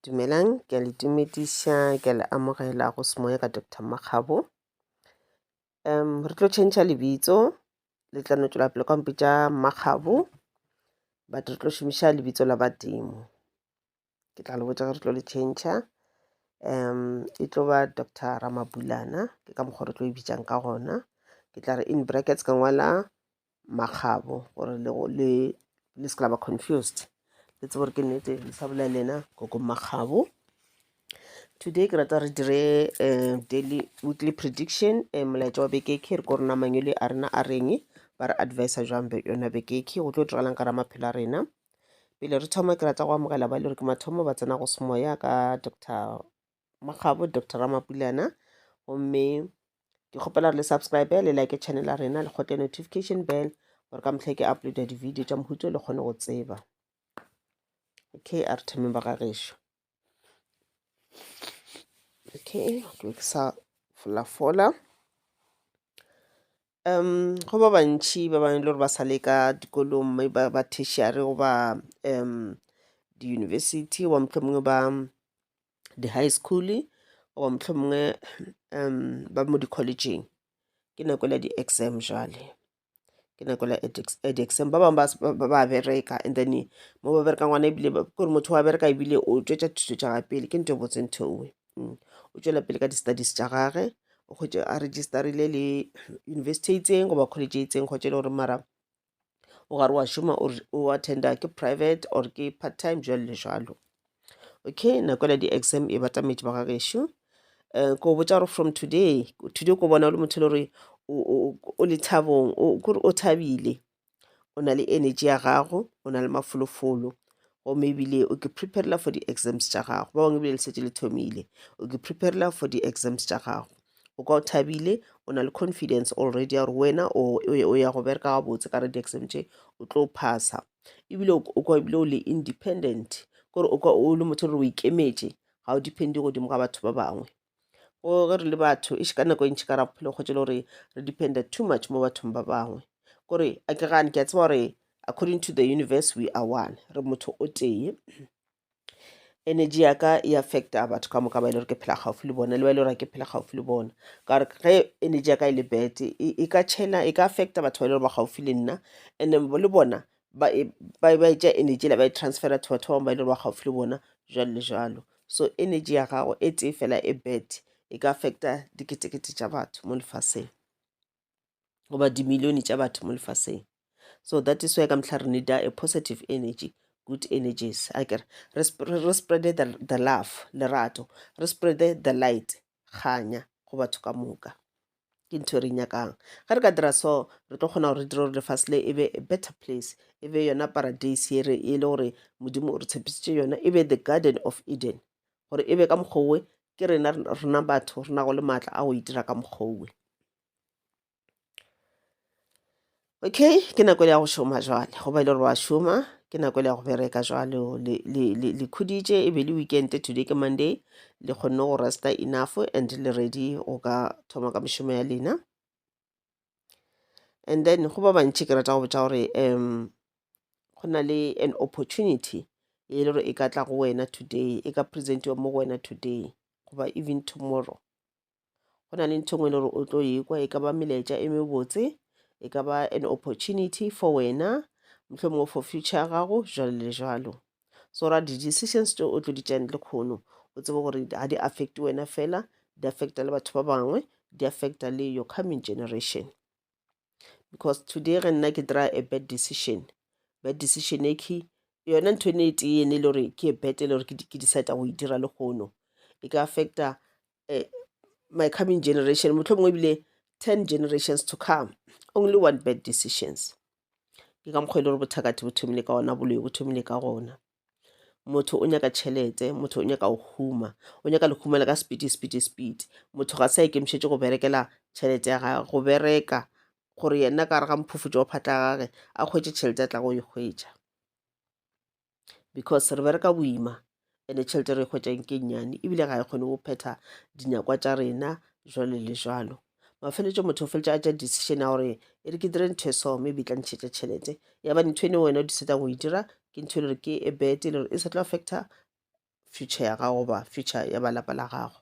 Dumelang, ke a le dumediša, ke a le amogela go Semoya ka Doctor Makgabo. Um, re tlo tšhentšha lebitso, le tla no tšwela pele ka mpitša Makgabo, but re tlo šomiša lebitso la badimo. Ke tla le botša ge re tlo le tšhentšha. Um, e tlo ba Doctor Ramabulana, ke ka mokgwa re tlo e bitšang ka gona. Ke tla re in brackets ka ngwala makgabo gore le go- le le se ka la ba confused le tsebe gore ke nnete le sa bolela le yena koko makgabo today ke rata re dire eh, daily weekly prediction eh, molaetša wa beke ke re ko rena mangwele a rena a reng ba re advisa jang be- yona beke ke go tlo diragalang ka ra maphelo a rena pele re thoma ke rata go amogela ba e le gore ke mathomo ba tsena go semoya ka dr mokgabo dr ramapulana gomme ke kgopela gore le subscribe le like channel ya rena le kgote notification bell gore ka mohlake uploada di-video tša mohuto le kgone go tseba okay a re thomeng ba gagešo okay ke sa folafola Um go ba bantši ba bangwe le gore ba sa le ka dikolong mme ba ba tertiary goba um di-university goba mohlomongwe ba di-high school goba mohlomongwe um ba mo di-collegeng ke nako la di-exam jale ke nako la edex- eh, di-exam ba bangwe ba s- ba ba- ba bereka and then mo ba bereka ngwana ebile ba- ke gore motho wa bereka ebile o tšwetša thuto tša ga pele ke nto e botse ntho ewe mm, o tšwela pele ka di-studies tša gage o kgwetše a registerile le university e itseng goba college e itseng kgwetše e le gore mara o gare wa šoma o attenda ke private or ke part time jalo le jalo okay nako ela di-exam e batametše ba gagešo um eh, ko botsa gore from today today ko bona o le motho e le gore o le thabong o thabile o na le energy ya gago o na le mafolofolo gomme ebile o ke preparela for di-exams tša gago ba bangwe ebile le setse le thomile o ke preparela for di-exams tša gago o ka o thabile o na le confidence already ya gore wena o ya go bereka gabotse ka re di-exam tše o tlo phasa ebile o ka ebile o le independent kore o le motho gore o ikemetše ga o depende godimo ga batho ba bangwe go ge re le batho e ka nako e ntši ka ra bophelo kgotse le gore re dependa too much mo bathong ba bangwe kore a ke gane ke a tseba gore according to the universe we are one re motho o tee energy ya ka e affecta batho ka moka ba e le gore ke phela gaufi le bona le ba e le gore ke phela gaufi le bona ka gore ge energy ya ka e le bad e ka chena e ka affecta batho ba e le gore ba gaufi le nna and le bona ba e ba e- ba e tšea energy la ba e transfera to batho ba bangwe ba e le gore ba gaufi le bona jalo le jalo so energy ya gago e tee fela e bad e ka affecta diketekete tša batho mo lefaseng goba dimilione tša batho mo lefaseng so that is why ka mehla re needa a positive energy good energies a kere re sp- re- re spreade the, the love lerato re spreade the light kganya go batho ka moka ke ntho e re nyakang ge re ka dira so re tlo kgona gore re dire gore lefase le e be a better place e be yona paradise e re e le gore modimo o re tshepisitše yona e be the garden of eden gore e be ka mokgowe ke rena rena batho re nago le maatla a go itira ka mokgowe Okay, ke nako ya go šoma jwale, go ba e le gore wa šoma, ke nako ya go bereka jwale. o Le, le, le, le khuditše, e be le weekend, today ke Monday, le kgonne go resta enough and le ready go ka thoma ka mešomo ya lena. And then go ba bantši ke rata go botša gore um go na le an opportunity e le gore e ka tla go wena today, e ka presentiwa mo go wena today, goba even tomorrow. go na le ntho e nngwe e le gore o tlo ekwa e ka ba melaetša e mebotse e ka ba an opportunity for wena mohlomongwe for future ya gago jalo le jalo so ra di-decisions tse o tlo di tšang lekgono o tsebe gore ga di affect wena fela di affecta le batho ba bangwe di affecta le your coming generation because today ge nna ke dira a bad decision bad decision e key yona ntho ene e tee ene e le gore ke e bete e le gore ke decide go e dira le kgono e ka affecta uh, my coming generation motlho mongwe ebile 10 generations to come only one bad decisions ke ka mokgwa e le gore bothakathe bo thomile ka ona boloi bo thomile ka gona motho o nyaka tšhelete motho o nyaka go huma o nyaka lehumela ka speed speed speed motho ga sa ikemišetse go berekela tšhelete ya gage go bereka gore yena ka re ga mphufutso wa phatla gage a kgwetse tšhelete a tla go e kgwetsa because re bereka boima ene tšhelete re e kgwetšang ke nnyane ebile ga e kgone go phetha dinyakwa tša rena jalo le jalo mafeletšo motho o feletša a tša decision ya gore e re ke dire ntho e so maybe e tla ntšhetša tšhelete yaba ntho ene wena o disetang go e dira ke ntho e le gore ke e bete e le gore e sa tlo affecta future ya gago goba future ya balapa la gago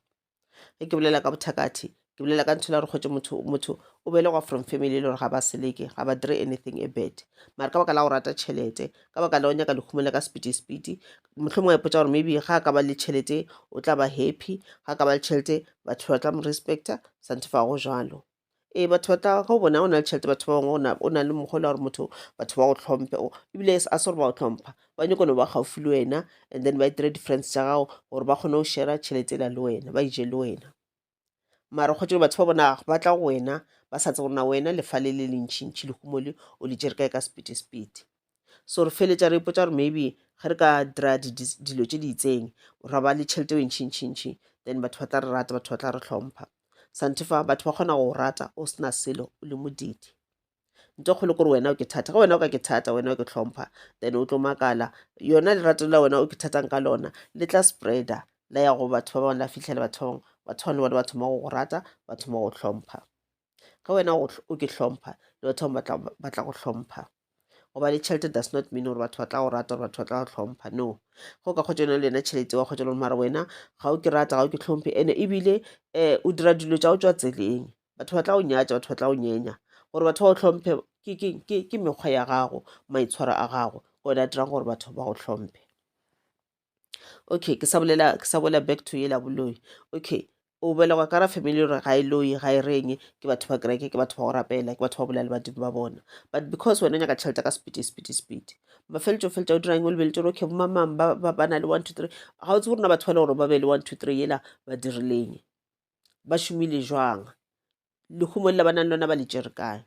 ge ke bolela ka bothakathe ke bolela ka ntho la gore kgotse motho motho o belegwa from family e le gore ga ba seleke ga ba dire anything a bad mara ka baka la go rata tšhelete ka baka la go nyaka lehumo le ka sepedisepedi motlho mongwe ipotsa gore maybe ga a ka ba le tšhelete o tla ba happy ga a ka ba le tšhelete batho ba tla mo respecta santho fa go jalo ee batho ba tla go bona o na le tšhelete batho ba bangwe o na le mokgolo gore motho batho ba go tlhomphe ebile a se gore ba go tlhompha ba nyako no ba gaufi le wena and then ba e dire difference tša gago gore ba kgone go shera tšhelete ela le wena ba ije le wena mara kgotse batho ba bona ba tla go wena ba sa tse gorena wena lefa le le lentšhintšhi le humole o le jere kae ka sepete sepete so re feletša re ipotsa gore maybe ge re ka dira dilo tše di itseng ra ba le tšhelete e ntšhintšhintšhi then batho ba tla re rata batho ba tla re hlompha santefa batho ba kgona go rata o sena selo o le modidi nto kgolo kore wena o ke thata ge wena o ka ke thata wena o ke tlhompha then o tlo makala yona lerato la wena o ke thatang ka lona le tla spreader la ya go batho ba bangwe la fitlhela batho ba bangwe batho bangwe le bona ba thoma go go rata ba thoma go hlompha ge wena o ke hlompha le batho bangwe ba tla go hlompha goba le tšhelete does not mean gore batho ba tla go rata gore batho ba tla go hlompha no go ka kgotsa yone le yena tšhelete wa kgotsa lone mara wena ga o ke rata ga o ke tlhomphe ene ebile um o dira dilo tša go tswa tseleng batho ba tla go nyatša batho ba tla go nyenya gore batho ba go tlhomphe ke mekgwa ya gago maitshwaro a gago ke one a dirang gore batho ba go tlhomphe okay ke sa bolela ke sa bolela back to yela boloi okay o belegwa ka ra family gore ga e loyi ga e reng ke batho ba kereke ke batho ba go rapela ke batho ba bolela le badimo ba bona but because wena o nyaka tšhelete ka sepiti sepiti sepiti mafeletso feletsa o dirang o lebeletse gore okay bomamang ba ba- ba na le one two three ga o tsebe rona batho ba le gore ba be le one two three yela ba dirileng ba šomile jwang lehumo lela ba nang le lona ba le tšere kae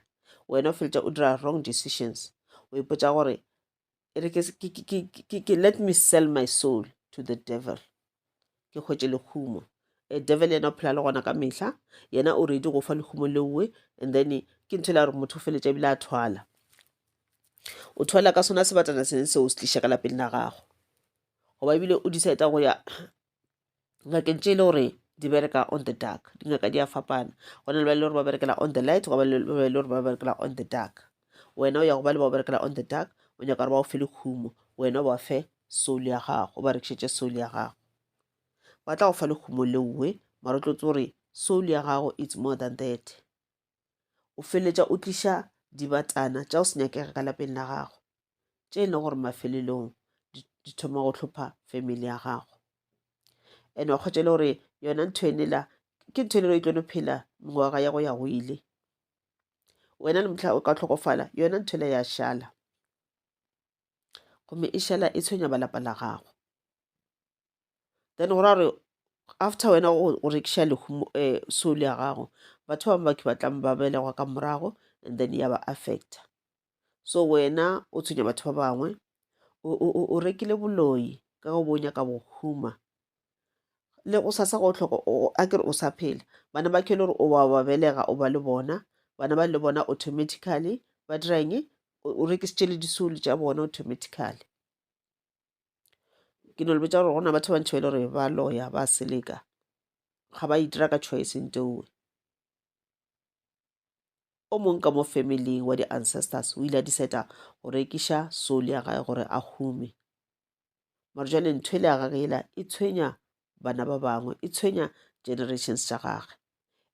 wena o feletsa o dira wrong decisions o ipotsa gore e re ke let me sell my soul to the devil ke hwetše lekhumo e devil yena o phela le gona ka mehla yena o redi go fa lekhumo leowe and then ke ntho e la gore motho o feletša ebile a thwala o thwala ka sona sebatana sene seo se tliša ka lapeng la gago goba ebile o decide go ya ngakeng tše e le gore di bereka on the dark dingaka di a fapana go na le ba e le gore ba berekela on the light go ba le ba e le gore ba berekela on the dark wena o ya go ba le ba o berekela on the dark o nyaka gore ba o fe lekhumo wena ba fe soul ya gago o ba rekišetse soul ya gago ba tla go fa lekhumo leowe mara o tlotse gore soul ya gago it's more than that o feletša o tliša dibatana tša o se nyakega ka lapeng la gago tše e le gore mafelelong di thoma go tlhopha family ya gago and wa kgwetša le gore yona ntho ene la ke ntho e le gore e tlo no phela mengwaga ya go ya go ile wena le motlha o ka tlhokofala yona ntho ela ya šala gomme e šala e tshwenya balapa la gago then go ra gore after wena o rekiša lehumo um soul ya gago batho ba baki ba tlang ba belegwa ka morago and then ya ba affecta so wena o tshwenya batho ba bangwe o rekile boloi ka go bonya ka bohuma le go sasa go tlhoko a kere o sa phela bana ba kele gore o ba ba belega o ba le bona bana ba le bona automatically ba dirang o rekisitše le disolo tša bona automatically ke no le botsa gore gona batho ba ntšhwele gore ba loya ba seleka ga ba itira ka choice nteowe o mong ka mo family wa di-ancestors o ile a diseta go rekiša soul ya gae gore a hume mare jale ntho e le ya gage ela e tshwenya bana ba bangwe e tshwenya generations tša gage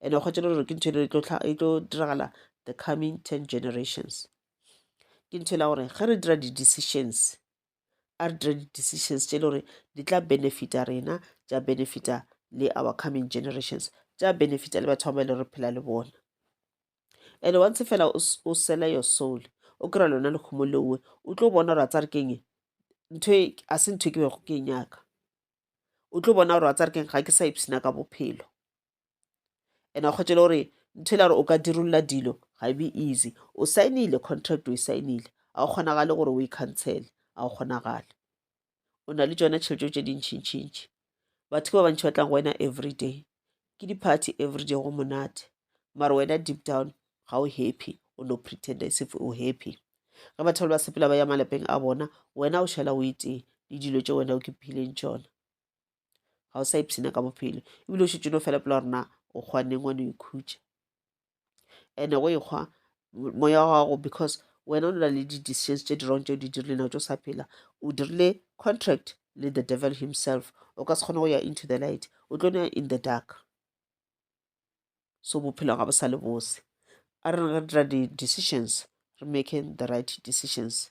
and-e kgwetse le gore ke ntho e le e tlo diragala the coming ten generations ke ntho e la gore ge re dira di-decisions a re dire di-decisions tše e le gore di tla benefita rena tša benefita le our coming generations tša benefita le batho ba ba e le re phela le bona and once fela o sela your soul o kry-a lona lekgomo leowe o tlo bona gore a tsa re keng ntho e, a se ntho e ke bego ke e nyaka o tlo bona gore a tsa re keng ga ke sa ipshina ka bophelo and a kgwetšele gore ntho e la gore o ka dirolola dilo ga e be easy o saenile contract o e saenile ga o kgonagale gore o e cancele ga o kgonagale o na le tsone tšhelete tše dintšhintšhintši batho ke ba bantšhi ba tlang go wena every day ke di-party every day go monate mara wena deep down ga o happy o no pretend as if o happy ge batho ba le ba sepela ba ya malapeng a bona wena o šala o etee le dilo tše wena o ke phileng tšona ga o sa ipshina ka bophelo ebile o šetse no fela pela gorena o kgwaneng wa no ikhutša ande go ekgwa moya wa gago because wena o na le di-decisions tse di wrong tse o di dirile nao tse o sa phela o dirile contract le the devil himself o ka se kgone go ya into the light o tlo ya in the dark so bophelo ga bo sa le bose a re re dira di-decisions re making the right decisions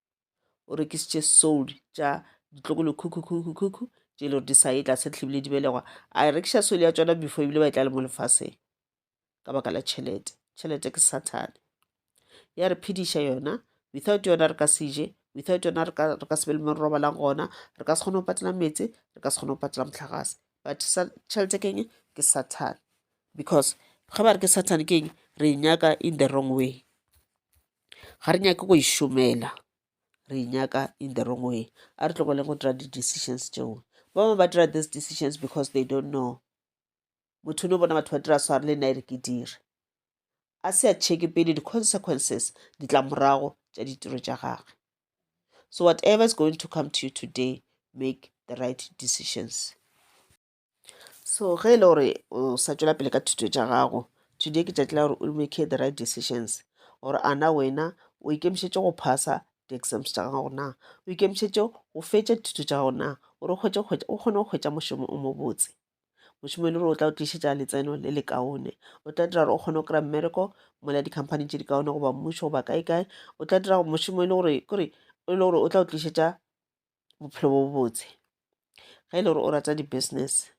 o rekisitše soul tša ditlokolokhukhukhukhukhukhu tše e le gore di sa ye tlase tlebile di belegwa a e rekiša soul ya tšona before ebile ba e tla le mo lefaseng ka baka la tšhelete tšhelete ke sathane ya re phediša yona without yona re ka se je without yona re ka se be le mo re robalang gona re ka se kgone go patela meetse re ka se kgone go patela motlagase but tšhelete keng ke sathane because ge ba re ke sathane keng re e nyaka in the wrong way ga re nyake go e šomela re e nyaka in the wrong way a re tlogoleng go dira di-decisions tšeo ba bangwe ba dira these decisions because they don't know motho no bona batho ba dira sware le nna e re ke dire a se a checke pele di-consequences ditlamorago tša ditiro tša gagwe so whatever is going to come to you today make the right decisions so ge e le gore o sa tšwela pele ka thuto tša gago today ke tšatši la gore o make the right decisions gore a na wena o ikemišetše go phasa di-exams tša gago na o ikemišetše go fetša dithuto tša gago na gore o kgone go hwetša mošomo o mobotse mošomo e le gore o tla o tlišetša letseno le le kaone o tla dira gore o kgone go kry-a mmereko mola di-company tše di kaone goba mmušo goba kae kae o tla dira mošomo e le gore kore e le gore o tla o tlišetša bophelo bo botse ge e le gore o rata di-business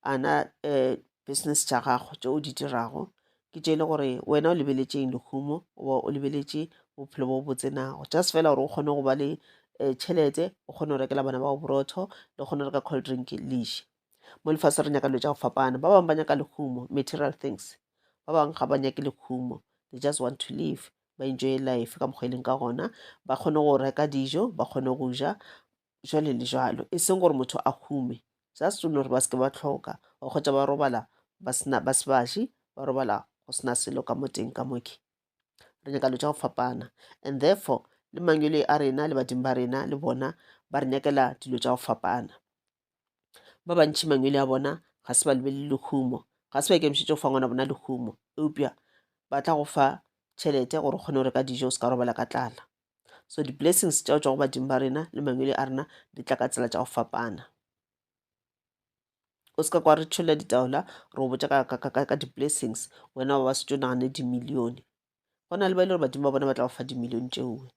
ana um business tša gago tše o di dirago ke tše e le gore wena o lebeletšeng lehumo goba o lebeletše bophelo bo botse nago just fela gore o kgone go ba le um tšhelete o kgone go rekela bana bao borotho le kgone go reka cold drink leše mo lefase re nyaka dilo tša go fapana ba bangwe ba nyaka lehumo material things ba bangwe ga ba nyake lehumo they just want to live ba enjoye life ka mokgwa e leng ka gona ba kgone go reka dijo ba kgone go ja jwale le jwalo e seng gore motho a hume just o gore ba seke ba tlhoka o kgotsa ba robala ba sena ba sebaši ba robala go sena selo ka mo teng ka moke re nyaka lo tša go fapana and therefore le mangwele a rena le badimo ba rena le bona ba re nyakela dilo tša go fapana Ba bantši mangwele a bona ga se ba lebelele lehumo, ga se ba ikemišetše go fa ngwana bona lehumo, eupša ba tla go fa tšhelete gore o kgone go reka dijo o se ka robala ka tlala. So di-blessings tša go tšwa go badimo ba rena le mangwele a rena di tla ka tsela tša go fapana. O se ka kwa re tšholla ditaola re o botša ka di-blessings wena ba ba setšo nagane dimilione go na le ba e le gore badimo ba bona ba tla go fa dimilione tšeoe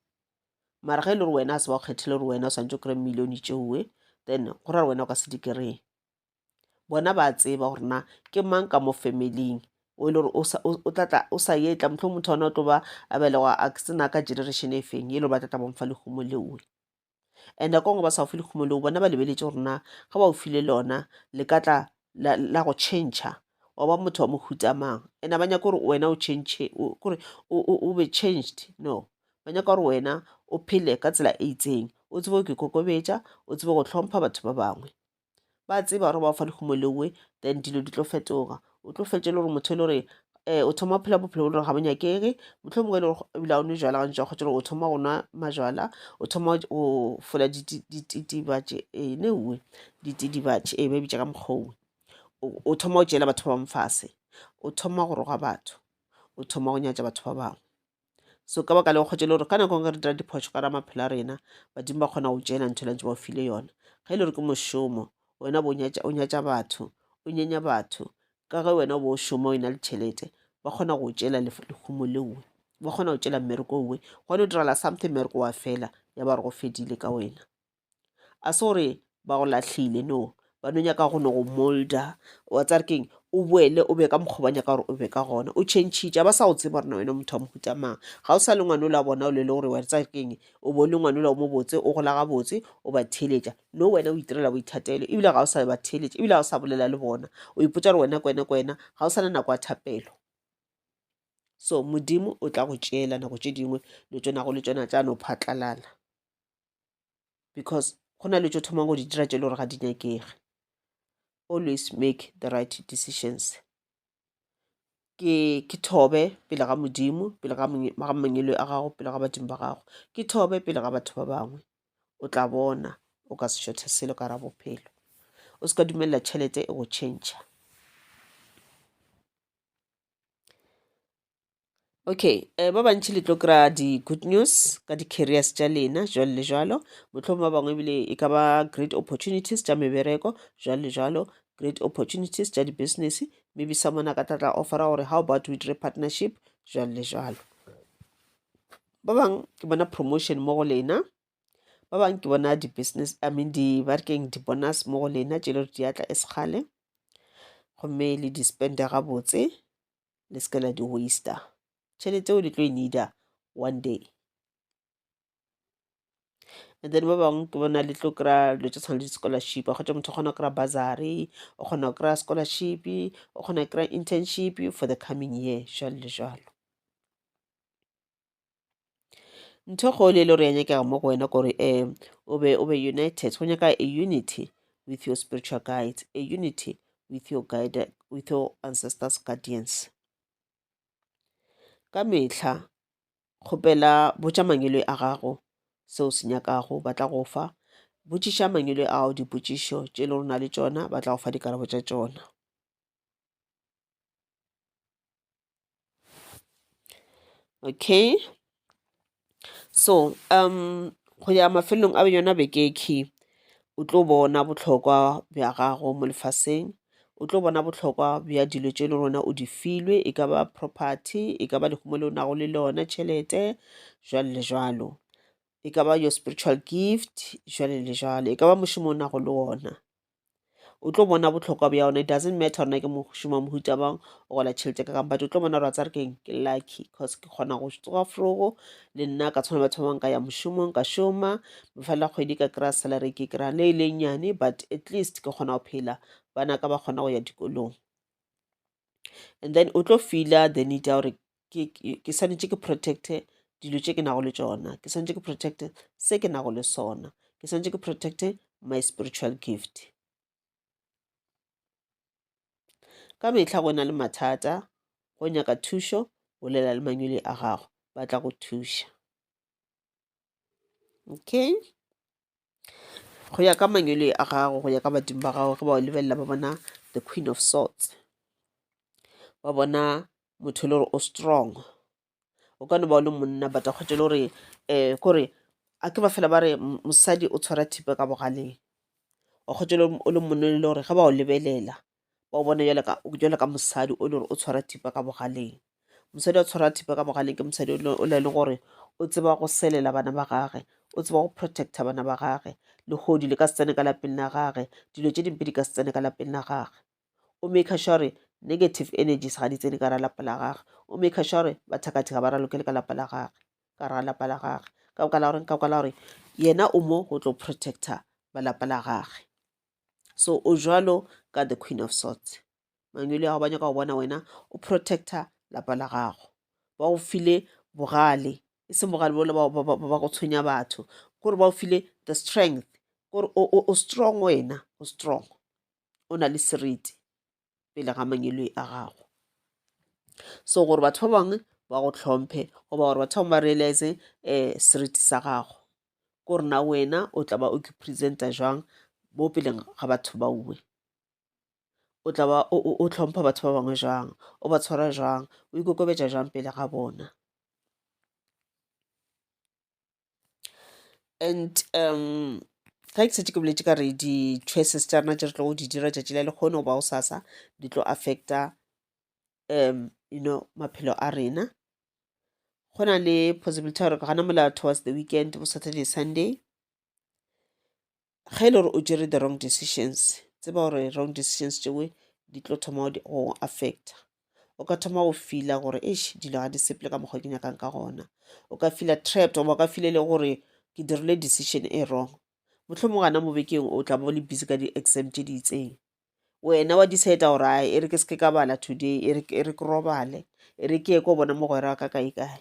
mara ge e le gore wena a se ba go kgethile gore wena o swantse o kry milione tšeoe then go ra wena o ka se di kry-e bona ba tseba gore na ke mang ka mo familing o e le gore o tlatla o sa etla motlho motho ona o tlo ba a belegwa a sena ka generation e feng e le gore ba tlatla bomfa lehumo leoe and nako ngwe ba sa go fe lekhumo leo bona ba lebeletše gore na ge ba o file lona le ka tla la, la go change wa ba motho wa mohuta mang and ba nyaka gore wena o change kore o be changed no ba nyaka gore wena o phele ka tsela e itseng o tsebe go ikokobetša o tsebe go tlhompha batho ba bangwe ba tseba gore ba fa dikgomo lewe then dilo di tlo fetoga o tlo fetše le gore motho e le gore um o thoma phela bophelo bo le gore ga bo nyakege motlho mongwe e le gore ebile a o nwe jala gantši wa kgotsa gore o thoma go nwa majala o thoma go fola dititibatše ee eh, newe ditidibatše ee eh, ba bitša ka mokgongwe o thoma go tšeela batho ba bangwe fase o thoma go roga batho o thoma go nyatša batho ba bangwe so ka baka le go kgotšele gore ka nako nngwe re dira diphošo ka ra maphelo a rena badimo ba kgona go tšeela ntho lantse ba o file yona ga e le gore ke mošomo wena bo o nyatša batho o nyenya batho ka ge wena o bo o šoma o e na le tšhelete ba kgona go tšeela lehumo leowe ba kgona go tšeela mmereko owe gone o dirala something mmereko wa fela ya ba re go fedile ka wena a se gore ba go lahlile no ba no nyaka go no go molda wa tsare keng o boele o be ka mokgwa ba nyaka gore o be ka gona o chentšhitša ba sa go tseba gore na wena motho wa mohuta mang ga o sa le ngwane ola bona o le le gore wa tsare keng o bo le ngwane ola o mo botse o gola ga botse o ba theeletša no wena o itirela boithatelo ebile ga o sa ba theeletša ebile ga o sa bolela le bona o ipotsa gore wena kwena kwena ga o sa le nako ya thapelo so modimo o tla go tšeela nako tše dingwe le tsona go le tsona tša no phatlalala because go na le tšo thoma go di dira tše le gore ga di nyakege always make the right decisions ke ke thobe pele ga modimo pele ga mangelo a gago pele ga badimo ba gago ke thobe pele ga batho ba bangwe o tla bona o ka se šothe selo ka ra bophelo o se ka dumelela tšhelete e go change okay um ba bantši le tlo kry-a di-good news ka di-carriers tša lena jwalo le jwalo mohlomong ba bangwe ebile e ka ba great opportunities tša mebereko jwalo le jwalo great opportunities tša di-business maybe someone a ka tlatla offera gore how about we dire partnership jwalo le jwalo ba bangwe ke bona promotion mo go lena ba bangwe ke bona di-business i mean di ba rekeng di-bonus mo go lena tše le gore di atla e sekgale gomme le di-spende gabotse le se ka la di waster tšhelete o le tlo e needa one day and then ba bangwe ke bona le tlo kry-a dilo tse tshwana le di-scholarship kgotsa motho o kgona go kry-a bursary o kgona go kry-a scholarship o kgona go kry-a internship for the coming year jalo le jalo ntho kgolo e le gore ya nyakega mo go wena kore um o be o be united go nyaka a unity with your spiritual guides a unity with your guide with your ancestors guardians ka mehla kgopela botša mangwele a gago seo se nyakago ba tla go fa botšiša mangwele a gago dipotšišo tše le rona le tšona ba tla go fa dikarabo tša tšona okay so go ya mafelelong a yona beke e key o tlo bona bohlokwa bja gago mo lefaseng, o tlo bona bohlokwa bja dilo tše e le gona o di filwe, e ka ba property, e ka ba lehumo le o nago le lona, tšhelete jwalo le jwalo, e ka ba your spiritual gift jwalo le jwalo, e ka ba mošomo o nago le wona. o tlo bona botlhokwa bja yona it doesn't matter rona ke mošoma mohuta bang o gola tšhelete ka kang but o tlo bona gore a tsare keng ke lucky cause ke kgona go tsoga frogo le nna ka tshwana batho ba bang ka ya mošomong ka šoma bofela kgwedi ka kry-a salary ke kry-a ne e le nyane but at least ke kgona go phela bana ka ba kgona go ya dikolong and then o tlo feela the need ya gore ke swanetše ke protecte dilo tše ke nago le tšona ke swanetše ke protecte se ke nago le sona ke swanetše ke protecte my spiritual gift ka mehla go na le mathata go nyaka thušo bolela le manyoli a gago ba tla go thuša Okay, go ya ka mangwele a gago, go ya ka badimo ba gago ge ba o lebelela ba bona the queen of swords, ba bona motho e le gore o strong. O ka no ba o le monna but a kgotse e le gore um kore a ke ba fela ba re mosadi o tshwara thipa ka bogaleng. Wa kgotse o le monna e le gore ge ba o lebelela ba o bone jale ka, jale ka mosadi o e le gore o tshwara thipa ka bogaleng mosadi a tshwara thipa ka bogaleng ke mosadi o le le gore o tseba go selela bana ba gage o tseba go protecta bana ba gage legodi le ka se tsene ka lapeng la gage dilo tše dimpe di ka se tsene ka lapeng la gage o make sure negative energies ga di tsene ka ra lapa la gage o make sure bathakathi ga ba ralokele ka lapa la gage ka ra lapa la gage ka boka la gore ka boka la gore yena o mo go tlo protecta ba lapa la gage so o jwalo ka the queen of sorts mangwele ao ba nyaka go bona wena o protecta lapa la gago ba go file bogale e seng bogale bole ba go tshwenya batho kore ba go file the strength kore o strong wena o strong o na le seriti pele ga mangweloi a gago so gore batho ba bangwe ba go tlhomphe goba gore batho bangwe ba realize um eh, seriti sa gago ko rena wena o tla ba o ke presenta jwang mo peleng ga batho ba uwe o tla ba o tlhompha batho ba bangwe jwang o ba tshwara jwang o ikokobetša jwang pele ga bona and um ga ke setse ke boletse ka re di-choices tša rena tše re tlogo di dira tšatši le lehono goba gosasa di tlo affecta um you know maphelo a rena go na le possibility ya gore gana mola towards the weekend bo saturday sunday ge e le gore o tšere the wrong decisions tseba gore wrong decisions tšewe di tlo thoma go affecta o ka thoma go fila gore eish dilo ga di seple ka mokgwa ke nyakang ka gona o ka fila trapped goba o ka file le gore ke dirile decision e wrong mohlomong gana mo bekeng o tla bo le busy ka di-exam tše di itseng wena wa decide gore a e re ke seke ka bala today e re e ke robale e re ke ye ko bona mogwera wa ka kae kae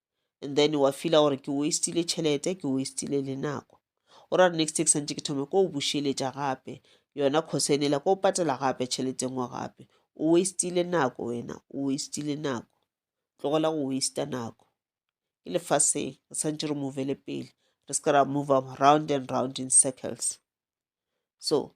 and then wa fila gore ke wastile tšhelete ke wastile le nako o ra next take santse ke thome ko o bušeletša gape yona khosenela ko o patela gape tšhelete ngwe gape o wastile nako wena o wastile nako tlogela go wasta nako ke lefaseng re tshwanetse re movele pele re se ka ra move round and round in circles so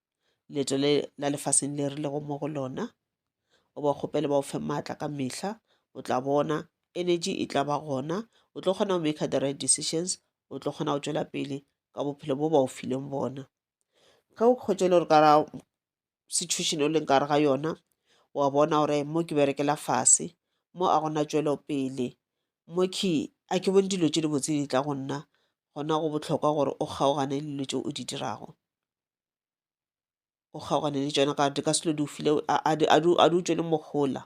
leeto le la lefaseng le re lego mo go lona o ba kgopele ba o fe maatla ka mehla o tla bona energy e tla ba gona o tlo kgona go make the right decisions o tlo kgona go tšwela pele ka bophelo bo ba o fileng bona ge o kgotse le gore ka ra situation o leng kare ga yona wa bona gore mo ke berekela fase mo a gona tšwelo pele mo ke a ke bone dilo tše dibotse di tla go nna gona go bohlokwa gore o kgaogane le dilo tše o di dirago o kgaogane le tšona ka di ka se lo di file a di utšwele mohola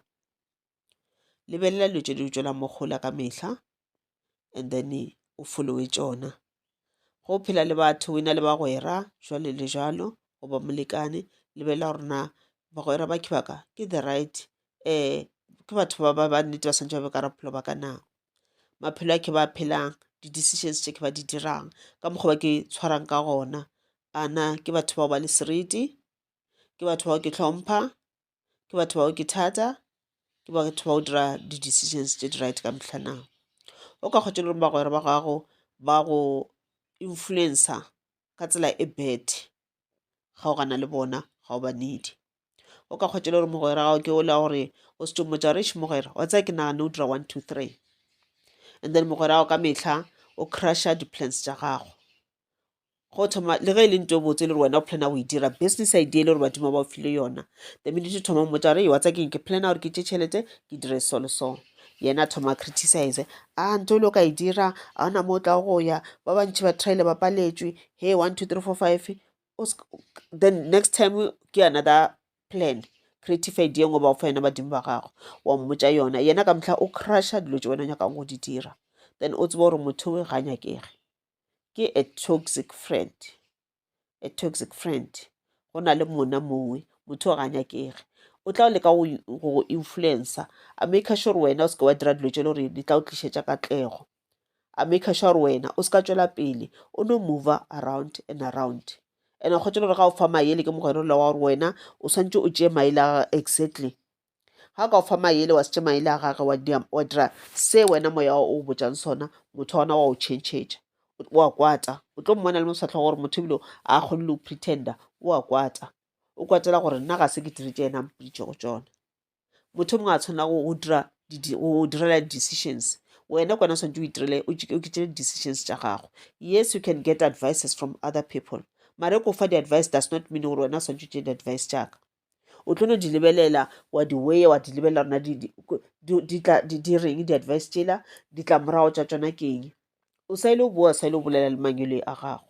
lebelela dilo tše di utšwela mohola ka mehla and then o followe tšona go phela le batho o e na le bagwera jwale le jalo goba molekane lebelela gore na bagwera ba ke the right um ke batho ba ba nnete ba swantšha ba be ka bophelo ba ka na. maphelo a ke ba phelang, di-decisions tše ke ba di dirang, ka mokgwa ba ke tshwarang ka gona. A na ke batho bao ba le seriti? Ke batho bao ke hlompha? Ke batho bao ke thata? Ke batho ba go dira di-decisions tše di right ka mehla na? O ka kgotša le gore bagwera ba gago ba go influencer ka tsela e bad, kgaogana le bona ga o ba need-e. o ka kgwetšele gore mogwera gago ke ola gore o se tšomotša gore eš mogwera wa tsaya ke nagane o dira one two three and then mogwera gago ka metlha o crusha di-plans tša gago go thoma le ge e le nto e botse e le gore wena o plana go e dira business idea e le gore badimo ba o file yona the minute thoma mmotsa gore wa tsa keng ke plana gore ke tše tšhelete ke dire so le so yena thoma criticize a nto le o ka e dira a ona mo o tla go ya ba bantši ba traile ba paletswe he one two three four five then next time ke another plan creative idea e ngwe ba o fa yona badimo ba gago wa mmotsa yona yena ka motlha o crusha dilo tse wena o nyakang go di dira then o tseba gore motho we ga nyakege ke a toxic friend a toxic friend go na le monna mongwe motho o ga nyakege o tla o leka go influencer a make sure wena o seke wa dira dilo tse le gore di tla o tlišetša katlego a maker sure gore wena o se ka tšwela pele o no mover around and around and kgotse gore ga o fa mayele ke mogwere ola wa gore wena o swantse o tšee maele a gage exactly ga ka o fa mayele wa se tše maele a gage wa dira se wena moya o o botšang sona motho wa ona wa o changetša wa kwata o tlo mmona le moswatlho gore motho ebile a kgone le o pretender wa kwata o kwatela gore nna ga se ke diritše yena mpitše go tsona motho o mongwe a tshwanela go dira go direla di-decisions wena kwana o tshwanetse o itirele o kitšele di-decisions tša gago yes you can get advices from other people mare ko fa di-advice does not mean gore wena o tshwanetse o tšee di-advice tša ka o tlo no di lebelela wa di weya wa di lebelela rona di reng di-advice tšela ditlamorago tša tsona keng o sa ile o boa sa ile o bolela le mangwele a gago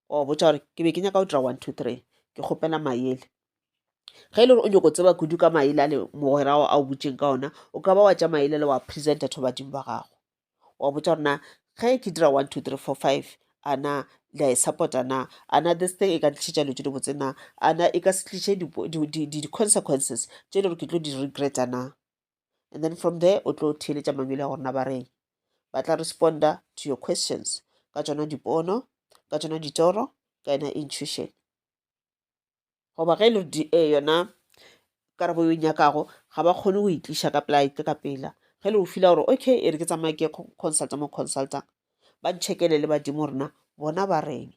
wa botsa gore ke be ke nyaka go dira one two three ke kgopela maele ge e le gore o nyoko tseba kudu ka maele a le mogwera ao a o butseng ka ona o ka ba wa tša maele le wa presenta tho badimo ba gago wa botsa gore na ge ke dira one two three four five ana le a e support-a na ana this thing e ka tlišetša dilo tse di botse na ana e ka se tliše di-consequences tše e le gore ke tlo di regreta na and then from there o tlo theeletša mangwele a gorena ba reng ba tla responda to your questions ka tšona dipono ka tšona ditoro ka yona intuition goba ge e le di e eh, yona karabo yo nyakago ga ba kgone go itliša ka pela itle ka pela ge le o fila gore okay e re ke tsamaya ke consulta mo consultang ba nchekele le badimo rena bona ba reng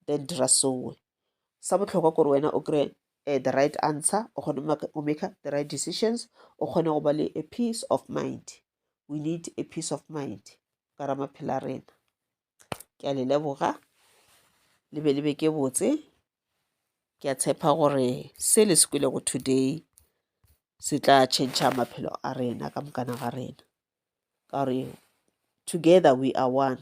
then dira soe sa bohlokwa kore wena o kry eh, the right answer o kgone o make the right decisions o kgone go ba le a peace of mind we need a peace of mind ka ra maphela a rena ke a le leboga le be le be ke botse ke a tshepa gore se le se kwilego today se tla change maphelo a rena ka mokana ga rena ka gore together we are one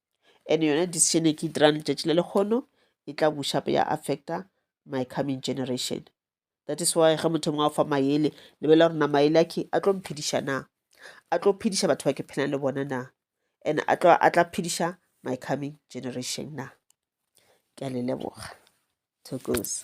and yone decision e ke e dirang letšatši le lekgono e tla buša pe ya affecta my coming generation that is why ge motho mongwe a fa maele lebelela gore na maele a ke a tlo mphediša na a tlo phediša batho ba ke phelang le bona na and a tlo a tla phediša my coming generation na ke a le leboga thokoza